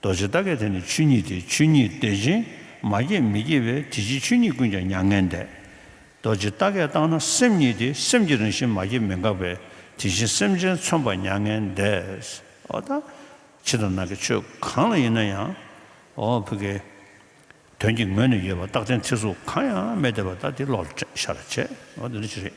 རྡོ་རྗེ་རྟ་སྐད་དེ་ནི་ཆོས་ཉིད་དེ་ཆོས་ཉིད་བདེ་ཆེན་མ་སྐྱེས་མི་སྐྱེ་བས་དེ་ཕྱིར་ཆོས་ཉིད་ཀུན་ཀྱང་མྱ་ངན་འདས། རྡོ་རྗེ་རྟ་སྐད་བཏང་ན་སེམས་ཉིད་དེ་སེམས་ཀྱི་རང་བཞིན་མ་སྐྱེས་མི་འགག་པས་དེ་བཞིན་སེམས་ཅན་མཚོན་པ་མྱ་ངན་འདས། ཨོ་ད། ཕྱི་དང་ནང་གི་ཆོས་གང་ལ་ཡིན་ན་ཡང། ཨོ་བྷི་ཀེ། དོན་གྱི་ངོས་ནས་ཡོད་པ་རྟག་བརྟན་ཚིག་གཟུགས་གང་ཡང་མེད་བདེ་བ་ལྟ་དེ་བློ་ལ་ཤར་བྱས། ཨོ་ད་འདི་ཅི་རེད།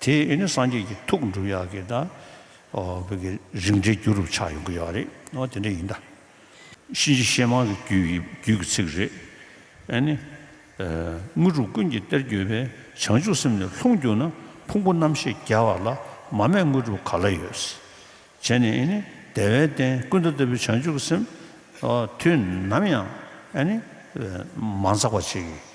དེ་ཡིས་ནི་སངས་རྒྱས་ཀྱི་ཐུགས་འགྲུབ་ཡག་གི་དང། བོད་ཀྱི་རིག་འགྲེ་རྒྱུ་རུ་ཆགས་ཡོང་གི་ཡག་རེད་ཨོ་དེ་འདྲ་ཡིན་ད། གཤིན་རྗེ་གཤེད་མང་གི་རྒྱུད་ཀྱི་རྒྱུད་ཀྱི་ཚིག་རེད་ཨེ་ནི། དངོས་གྲུབ་ཀུན་གྱི་གཏེར་གྱུར་པའི་བྱང་ཆུབ་སེམས་ནི་ལྷུང་གྱུར་ན་ཕུང་པོ་རྣམ་ཤེས་རྒྱལ་བ་ལ་མ་མེད་དངོས་གྲུབ་ག་ལ་ཡོད། བྱས་ནས་ཨེ་ནི་བདེ་བའི་སྟན་ཀུན་ད་ལྟ་བུའི་བྱང་ཆུབ་ཀྱི་སེམས། དུས་ནམ་ཡང་ཨེ་ནི། མ་འཛག་པ་བྱེད།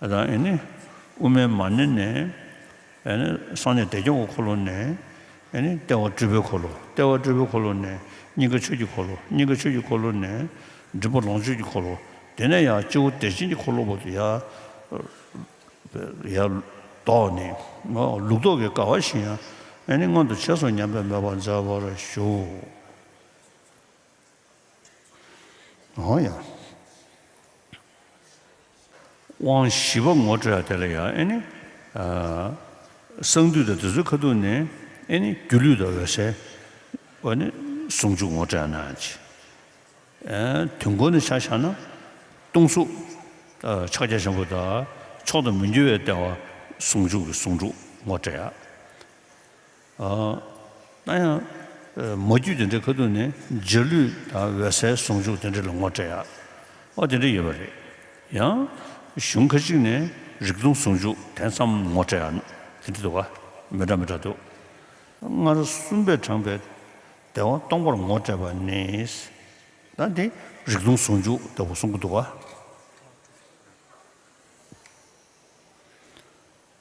དང་ཨེ་ནི། དབུ་མའི་མ་ནི་ནས། ཨེ་ནི། གསང་གནས་བདེ་སྐྱོང་གི་འཁོར་ལོ་ནས། ཨེ་ནི། ལྟེ་བ་སྤྲུལ་པའི་འཁོར་ལོ། ལྟེ་བ་སྤྲུལ་པའི་འཁོར་ལོ་ནས། སྙིང་ག་ཆོས་ཀྱི་འཁོར་ལོ། སྙིང་ག་ཆོས་ཀྱི་འཁོར་ལོ་ནས། མགྲིན་པ་ལོངས་སྤྱོད་ཀྱི་འཁོར་ལོ། དེ་ནས་ཡང་སྤྱི་བོ་བདེ་ཆེན་གྱི་འཁོར་ལོ་བར་དུ་ཡལ། ཡལ། བཟློག་ནས། ལུགས་བཟློག་གི་དགའ་བ་བཞིན་ཡང། ཨེ་ནི། མངོན་དུ་བྱས་སོ་སྙམ་པའི་མོས་པ་མཛད་པར་ཞུ། ཡང་ཡང། དབང་བཞི་པ་ངོ་སྤྲོད་ཡང་དེ་ལ་ཡང་ཨེ་ནི། གསང་འདུས་དང་དེ་ཚོའི་ཁ་ཐུག་ནས་ཨེ་ནི་སྒྱུ་ལུས་དང་འོད་གསལ། འོ་ནི་ཟུང་འཇུག་ངོ་སྤྲོད་ཡང་ན་ཡང་ཅི། དུས་འཁོར་ནི་ཆ་བཞག་ན། སྟོང་གཟུགས། ཕྱག་རྒྱ་ཆེན་པོ་དང་མཆོག་ཏུ་མི་འགྱུར་བའི་ལྟེ་བ་ཟུང་འཇུག་གི་ཟུང་འཇུག་ངོ་སྤྲོད་ཡང། ན་ཡང། མ་རྒྱུད་དེ་འདྲའི་ཁ་ཐུག་ནས་འཇའ་ལུས་དང་འོད་གསལ་ཟུང་འཇུག་དེ་འདྲ་ལ་ངོ་སྤྲད་ཡག་ཨོ་དེ་འདྲ་ཡོད་པ་རེད། ཡང། གཞུང་ཁ་ཅིག་ནས་རིག་སྟོང་ཟུང་འཇུག་དེ་ཙམ་ངོ་སྤྲད་ཡག་དེ་འདྲ་འདུག་མི་འདྲ་མི་འདྲ་འདུག། སྔར་གསུམ་པས་དྲངས་པའི་བདེ་བ་སྟོང་པར་ངོ་སྤྲད་པ་ནི། ད་འདི་རིག་སྟོང་ཟུང་འཇུག་འདི་འོ་གསུང་གི་འདུག་ཨ།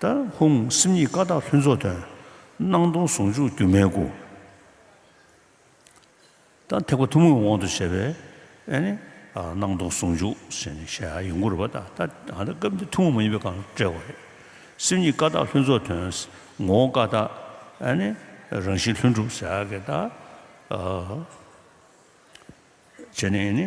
ད་ཧུང་སིམ་གཉིས་ཀ་དག་ལྷུན་རྫོགས་དོན། སྣང་སྟོང་ཟུང་འཇུག་སྒྱུ་མའི་སྐུ། ད་ཐེག་པ་ཐུན་མོང་གི་དབང་དུ་བྱས་པའི། སྣང་སྟོང་ཟུང་འཇུག་ཞེས་ནི་ཞེས་ཡིག་མགོ་རུ་བ་དང། ད་སྐབས་འདིར་ཐུན་མོང་མ་ཡིན་པའི་གང་བཀྲལ་བ་རེད། སེམས་གཉིས་ཀ་དག་ལྷུན་རྫོགས་དོན། ངོ་བོ་ཀ་དག་རང་བཞིན་ལྷུན་གྲུབ་ཟེར། ཞེས་ནི།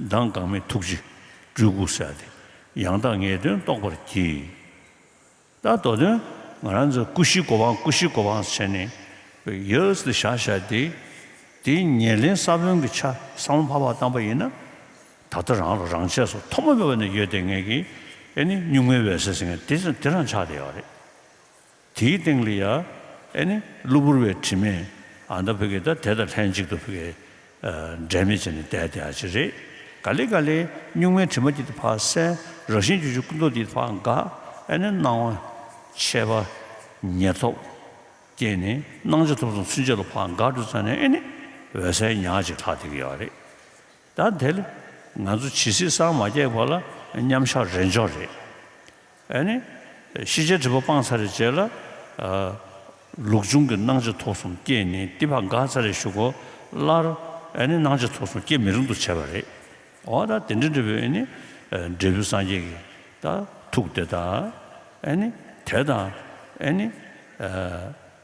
མདངས་འགག་མེད་ཐུགས་རྗེ་སྤྲུལ་སྐུ་གསལ། དེ་ཡང་དག་ངེས་དོན་རྟོགས་པར་གྱིས། རྟག་མདོ་དོན་ང་རང་ཚོ་སྐུ་བཞིའི་གོ་འཕང་སྐུ་བཞིའི་གོ་འཕང་བྱས་ནས། ཡོས་འདི་བཞག་བཞག་སྟེ། དེའི་ཉེར་ལེན་ས་བོན་གྱི་ཆ་ས་མ་འཕགས་པ་བཏང་པ་ཡིན་ན། ད་ལྟ་རང་ལ་རང་ཆས་སོ་ཐོག་མ་མེད་པ་ནས་ཡོད་དེ་ངེས་ཀྱི། ཨེ་ནི་གཉུག་མའི་འོད་གསལ་ཟེར་མཁན་དེ་རང་ཆགས་དེ་ཡོད་རེད། དེའི་སྟེང་ལ་ཡ་ཨེ་ནི་གློ་བུར་བའི་དྲི་མས་ཨ་མདའ་བོད་སྐད་དང་དེ་དང་ལྷན་ཅིག་ཏུ་བོད་སྐད་འབྲལ་མེད་བྱས་ནས་བསྡད་དེ་ཨ་ཅེ་རེ་ག་ལེ་ག་ལེ་སྨྱུག་མའི་དྲི་མ་འདི་དང་ཕག་སེན་རགས་ཤིང་ཆུ་ཆུ་སྐུ་མདོག་འདི་དང་ཕག་འགའ་ཨེ་ནི་སྣང་བ་ཆད་པ་ཉེར་ཐོབ་སྐྱེས་ནས་སྣང་ཆ་ཐོབ་སོང་ཚུན་ཆད་ལ་ཕག་འགའ་འགྲོ་ཚར་ནས་ཨེ་ནི་འོད་གསལ་ཉག་ཅིག་ལྷག་བསྡད་ཀྱི་ཡོད་རེད་ད། དེ་ལ་ང་ཚོ་ཇི་སྲིད་སངས་མ་རྒྱས་བར་ལ་མཉམ་བཞག་རེད་འཇོག་རེད། ཨ་ནི། ཤེས་བྱའི་སྒྲིབ་པ་སྤངས་ཚར་རེ་བྱས་ལ། ལུགས་འབྱུང་གི་སྣང་ཆ་ཐོག་གསུམ་སྐྱེས་ནས་བསྟི་བ་འགག་ཚར་རེ་ཞུགས་གོ། ལར། ཨ་ནི་སྣང་ཆ་ཐོག་གསུམ་སྐྱེ་མི་རུང་དུ་བྱས་པ་རེད། འོ་ད་དེ་འདྲ་འབྲས་བུ་ཨ་ནི། འབྲས་བུ་སངས་རྒྱས་ཀྱི། ཐུགས་དེ་དང། ཨ་ནི། དེ་དང། ཨ་ནི།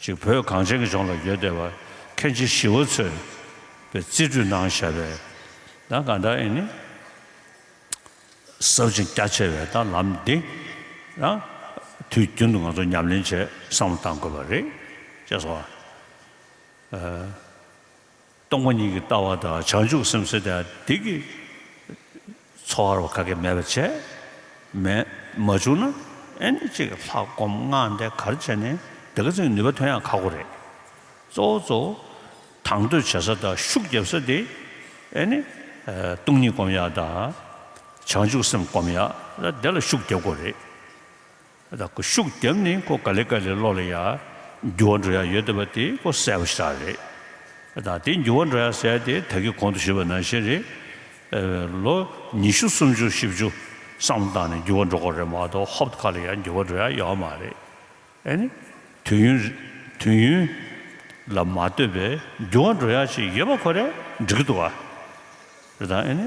ཅིག་བོད་གངས་ཅན་གྱི་ལྗོངས་ལ་ཡོད་བསྡད་པ་མཁན་ཆེན་ཞི་བ་འཚོས་པའི་རྩིས་འཕྲུལ་ནང་བཞག་པའི་ན་ག་ད་ཨེ་ནི་ཟབ་ཅིང་རྒྱ་ཆེ་བའི་ད་ལམ་འདི་རང་དུས་རྒྱུན་དུ་ང་ཚོ་ཉམས་ལེན་བྱེད་བསམ་བློ་བཏང་དགོས་པ་རེད་ཅེས་སོ། སྟོང་པ་ཉིད་ཀྱི་ལྟ་བ་དང་བྱང་ཆུབ་སེམས་གསོས་ཏེ་བདེ་སྐྱིད་འཚོ་བར་བ་ག་གེ་མེད་པར་བྱས། མེད་མ་བྱུང་ན་ཨེ་ནི་གཅིག་ལྷག་སྒོམ་སྔགས་འདི་གར་བྱས་ནས་བདེ་དགའ་ཅིང་ནུས་པ་ཐོན་ཡང་ཁག་པོ་རེད། གཙོ་བོ་གཙོ་བོ་དང་དོད་བྱེད་ས་དང་ཤུགས་རྒྱབ་ས་དེ་ཨེ་ནི་སྟོང་ཉིད་སྒོམ་ཡག་དང། བྱང་ཆུབ་སེམས་སྒོམ་ཡག་ལ་དེ་ལ་ཤུགས་རྒྱབ་དགོས་རེད། ར་ཁུ་ཤུགས་རྒྱབ་ནི་ཁོ་ག་ལེ་ག་ལེ་ལོག་ལེ་ཡ། འགྱུར་བ་འགྲོ་ཡ་ཡོད་བསྡད་པ་དེ་ཁོ་གསལ་བོ་ཤ་རེད། ད་དེ་འགྱུར་བ་འགྲོ་ཡ་གསལ་དེ་ད་གི་གོང་དུ་ཞུས་པ་ནང་བཞིན་རེད། ལོ་ཉི་ཤུ་སུམ་ཅུ་བཞི་བཅུ་བསམ་བློ་བཏང་ནས་འགྱུར་བ་འགྲོ་དགོས་རེད་མ་གཏོགས་ཧོབ་ཏུ་ག་ལེ་ཡ་འགྱུར་བ་འགྲོ་ཡ་ཡོད་མ་རེད། ཨེ་ནི། དུས་ཡུན། དུས་ཡུན། ལ་མ་ལྟོས་པའི་འགྱུར་བ་འགྲོ་ཡ་ཞིག་ཡོད་པ་ཁོ་རེད་འགྲིག་གི་འདུག་ཨ། རེད་ད་ཨེ་ནི།